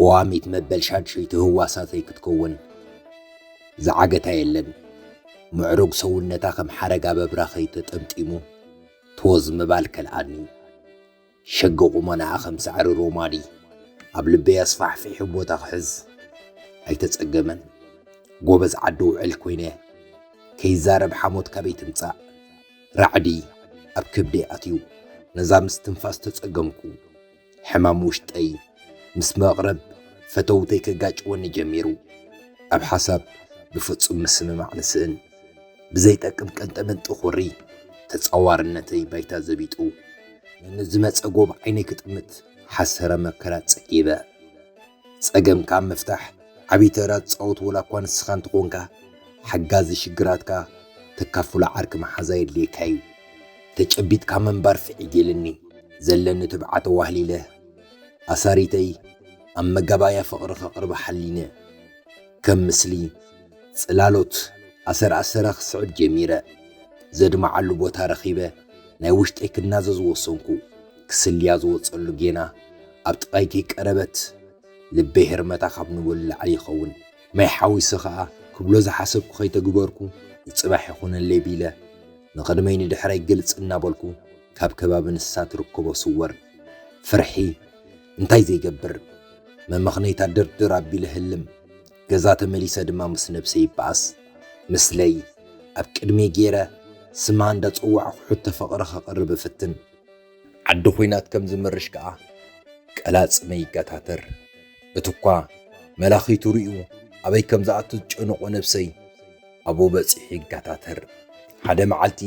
ቀዋሚት መበል ሻድሸይቲ ህዋሳተይ ክትከውን ዝዓገታ የለን። ምዕሩግ ሰውነታ ከም ሓረግ ኣብ ኣብራኸይ ተጠምጢሙ ቶዝ ምባል ከልኣኒ። ሸግ ቁመናኣ ከም ሳዕሪ ሮማዲ ኣብ ልበይ ኣስፋሕፊሑ ቦታ ክሕዝ ኣይተጸገመን። ጎበዝ ዓዲ ውዕል ኮይነ ከይዛረብ ሓሞት ካበይ ትምጻእ ራዕዲ ኣብ ከብደይ ኣትዩ ነዛ ምስትንፋስ ተጸገምኩ። ሕማም ውሽጠይ ምስ መቕርብ ፈተውተይ ከጋጭወኒ ጀሚሩ። ኣብ ሓሳብ ብፍጹም ምስምማዕ ንስእን። ብዘይጠቅም ቀንጠመንጢ ኹሪ ተጻዋርነተይ ባይታ ዘቢጡ፣ ንዝመጸ ጎብ ዓይነይ ክጥምት ሓሰረ መከራ ጽዒበ። ጸገምካ ኣብ ምፍታሕ ዓቢ ተራ ትጻወት ወላ እኳ ንስኻ እንተኾንካ፣ ሓጋዚ ሽግራትካ ተካፍሎ ዓርኪ መሓዛ የድልየካ እዩ። ተጨቢጥካ ምንባር ፍዒት ኢልኒ፣ ዘለኒ ትብዓት ኣዋህሊለ ኣሳሪተይ ኣብ መጋባእያ ፍቕሪ ከቕርባ ሓሊነ፣ ከም ምስሊ ጽላሎት ኣሰር ኣሰራ ክስዕብ ጀሚረ። ዘድምዓሉ ቦታ ረኺበ ናይ ውሽጠይ ክናዘዝ ወሰንኩ፣ ክስልያ ዝወጸሉ ጌና፣ ኣብ ጥቓይኪ ቀረበት ልበይ ህርመታ ካብ ንቡር ንላዕሊ ይኸውን ማይ ሓዊሰ ኸኣ ክብሎ ዝሓሰብኩ ከይተግበርኩ ንጽባሕ ይኹነለይ ቢለ ንቕድመይ ንድሕረይ ግልጽ እናበልኩ ካብ ከባቢ ንሳ ትርከቦ ስወር ፍርሒ እንታይ ዘይገብር መመኽነይታ ድርድር ኣቢለ ህልም ገዛ ተመሊሰ ድማ ምስ ነብሰይ ይበኣስ ምስለይ ኣብ ቅድመይ ገይረ ስማ እንዳጸዋዕኩ ሕቶ ፍቕሪ ከቕርብ እፍትን። ዓዲ ኹናት ከም ዝምርሽ ከኣ ቀላጽመይ ይገታተር። እቲኳ መላኺቱ ርእዩ ኣበይ ከም ዝኣቱ ዝጨነቖ ነብሰይ ኣብኡ በጺሑ ይገታተር። ሓደ መዓልቲ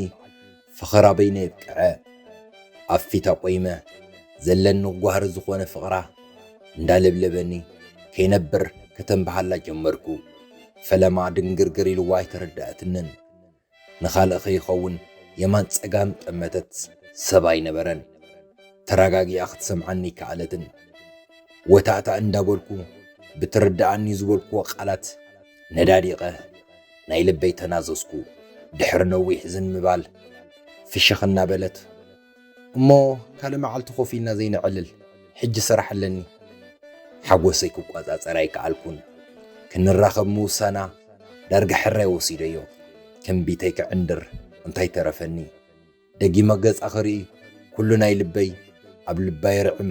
ፈኸራ በይነይ ኣብቅዐ። ኣብ ፊታ ቆይመ ዘለኒ ጓህሪ ዝኾነ ፍቕራ እንዳለብለበኒ ከይነብር ከተንብሃላ ጀመርኩ። ፈለማ ድንግርግር ኢልዋ ኣይተረድኣትንን። ንኻልእ ከይኸውን የማን ጸጋም ጠመተት፣ ሰብ ኣይነበረን። ተራጋጊኣ ክትሰምዓኒ ኣይከኣለትን። ወታእታእ እንዳበልኩ ብትርደኣኒ ዝበልኩዎ ቃላት ነዳዲቐ ናይ ልበይ ተናዘዝኩ። ድሕሪ ነዊሕ ዝን ምባል ፍሽኽ እናበለት። እሞ ካልእ መዓልቲ ኮፍ ኢልና ዘይነዕልል? ሕጂ ስራሕ ኣለኒ። ሓጎሰይ ክቆጻጸር ኣይከኣልኩን። ክንራኸብ ምውሳና ዳርጋ ሕራይ ወሲደዮ። ትንቢተይ ክዕንድር እንታይ ተረፈኒ? ደጊመ ገጻ ክርኢ ኩሉ ናይ ልበይ ኣብ ልባይ ርዕም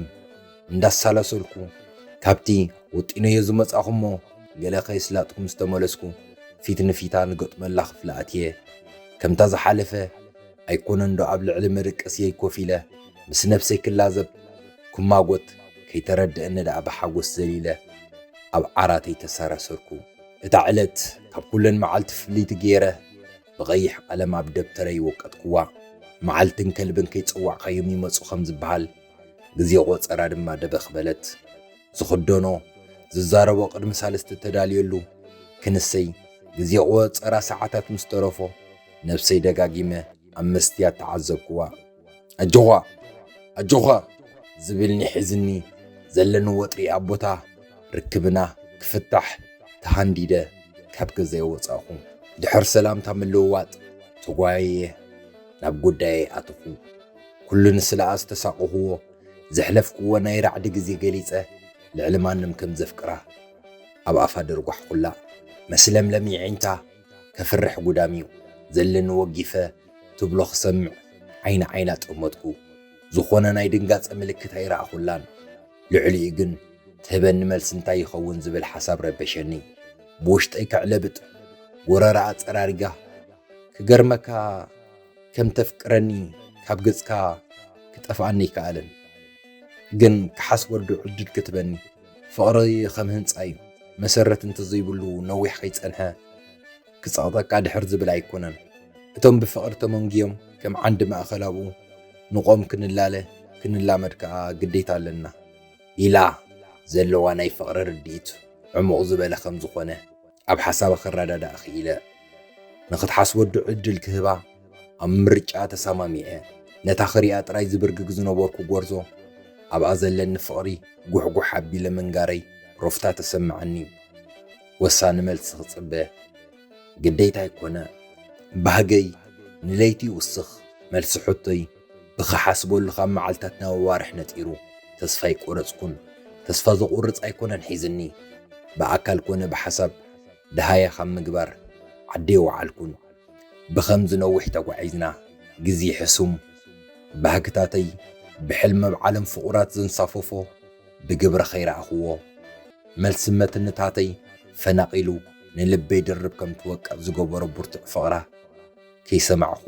እንዳሳላሰልኩ ካብቲ ወጢነዮ ዝመጻኹሞ ገለ ከየስላጥኩ ምስ ተመለስኩ ፊት ንፊታ ንገጥመላ ክፍሊ ኣትየ ከምታ ዝሓለፈ ኣይኮነንዶ ኣብ ልዕሊ መደቀስየይ ኮፍ ኢለ ምስ ነብሰይ ክላዘብ ክማጎት ከይተረደኣኒ ደኣ ብሓጎስ ዘሊለ ኣብ ዓራተይ ተሰረሰርኩ። እታ ዕለት ካብ ኩለን መዓልቲ ፍልይቲ ገይረ ብቐይሕ ቀለም ኣብ ደብተረይ ወቀጥኩዋ። መዓልትን ከልብን ከይጸዋዕካዮም ይመጹ ከም ዝበሃል ግዜ ቆጸራ ድማ ደበኽ በለት። ዝኽደኖ ዝዛረቦ ቅድሚ ሳልስቲ ተዳልየሉ ክንሰይ ግዜ ቁወጸራ ሰዓታት ምስ ተረፎ ነብሰይ ደጋጊመ ኣብ መስትያት ተዓዘብክዋ ኣጆዃ ኣጆዃ ዝብልኒ ሒዝኒ ዘለኒ ወጥሪ ኣብ ቦታ ርክብና ክፍታሕ ተሃንዲደ ካብ ገዛይ ወጻእኹ ድሕር ሰላምታ ምልውዋጥ ተጓየየ ናብ ጉዳየይ ኣተኹ ኩሉ ንስለኣ ዝተሳቀኹዎ ዘሕለፍክዎ ናይ ራዕዲ ግዜ ገሊጸ ልዕሊ ማንም ከም ዘፍቅራ ኣብ ኣፋ ደርጓሕኩላ መስለምለም የዒንታ ከፍርሕ ጉዳምዩ ዘለኒ ወጊፈ ትብሎ ክሰምዕ ዓይኒ ዓይና ጠመትኩ ዝኾነ ናይ ድንጋጸ ምልክት ኣይረኣኹላን ልዕሊኡ ግን ትህበኒ መልሲ እንታይ ይኸውን ዝብል ሓሳብ ረበሸኒ ብውሽጠይ ከዕለብጥ ጎረረኣ ጸራሪጋ ክገርመካ ከም ተፍቅረኒ ካብ ገጽካ ክጠፍኣኒ ኣይከኣለን ግን ክሓስበሉ ዕድል ክትበኒ ፍቕሪ ከም ህንጻ እዩ መሰረት እንተዘይብሉ ነዊሕ ከይጸንሐ ክጸቕጠቃ ድሕር ዝብል ኣይኮነን እቶም ብፍቕሪ ተመንግዮም ከም ዓንዲ ማእከል ኣብኡ ንቆም ክንላለ ክንላመድ ከኣ ግዴታ ኣለና ኢላ ዘለዋ ናይ ፍቕሪ ርድኢት ዕሙቕ ዝበለ ከም ዝኾነ ኣብ ሓሳባ ክረዳዳእ ክኢለ። ንኽትሓስበዱ ዕድል ክህባ ኣብ ምርጫኣ ተሰማሚዐ። ነታ ክሪኣ ጥራይ ዝብርግግ ዝነበርኩ ጎርዞ ኣብኣ ዘለኒ ፍቕሪ ጉሕጉሕ ኣቢለ ምንጋረይ ሮፍታ ተሰመዓኒ። ወሳኒ መልሲ ክጽበ ግዴታይ ኮነ። ባህገይ ንለይቲ ይውስኽ መልሲ ሕቶይ። ብክሓስበሉ ካብ መዓልታት ናብ ኣዋርሕ ነጢሩ ተስፋ ኣይቆረጽኩን ተስፋ ዘቁርጽ ኣይኮነን ሒዝኒ ብኣካል ኮነ ብሓሳብ ደሃያ ካብ ምግባር ዓዲ ኣይወዓልኩን ብከምዚ ነዊሕ ተጓዒዝና ግዜ ሕሱም ባህግታተይ ብሕልሚ ኣብ ዓለም ፍቁራት ዘንሳፈፎ ብግብሪ ከይረኣክዎ መልሲ መትንታተይ ፈናቂሉ ንልበይ ድርብ ከም ትወቅዕ ዝገበሮ ብርቱዕ ፍቅራ ከይሰማዕኩ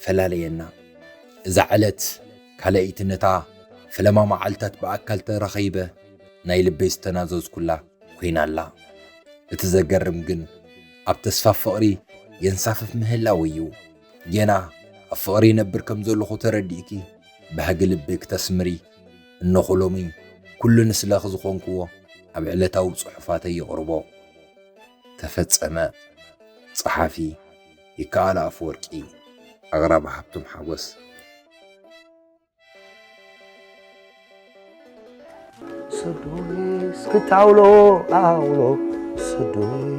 ፈላለየና። እዛ ዕለት ካልኣይቲ ነታ ፈለማ መዓልታት ብኣካል ተረኺበ ናይ ልበይ ዝተናዘዝኩላ ኮይና ኣላ። እቲ ዘገርም ግን ኣብ ተስፋ ፍቕሪ የንሳፍፍ ምህላወይ እዩ። ጌና ኣብ ፍቕሪ ይነብር ከም ዘለኹ ተረዲእኪ ባህጊ ልቢ ክተስምሪ እነኹ ሎሚ ኩሉ ንስለኺ ዝኾንክዎ ኣብ ዕለታዊ ጽሑፋተይ የቕርቦ። ተፈጸመ። ጸሓፊ። ይከኣል ኣፈወርቂ፣ ኣቕራቢ ሃብቶም ሓጎስ። ስዱይ እስክት ኣውሎ ኣውሎ ስዱይ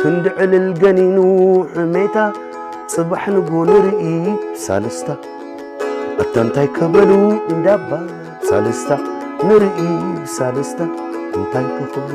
ክንዲ ዕልል ገኒኑ ሕሜታ ጽባሕ ንግሆ ንርኢ ሳልስታ ኣታ እንታይ ከበሉ እንዳባ ሳልስታ ንርኢ ሳልስታ እንታይ ከኽብሉ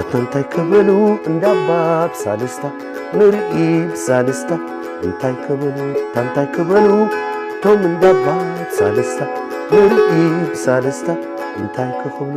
ኣታ እንታይ ክብሉ እንዳባ ብሳልስታ ንርኢ ብሳልስታ እንታይ ክብሉ ኣታ እንታይ ክብሉ እቶም እንዳባ ብሳልስታ ንርኢ ብሳልስታ እንታይ ክኽብሉ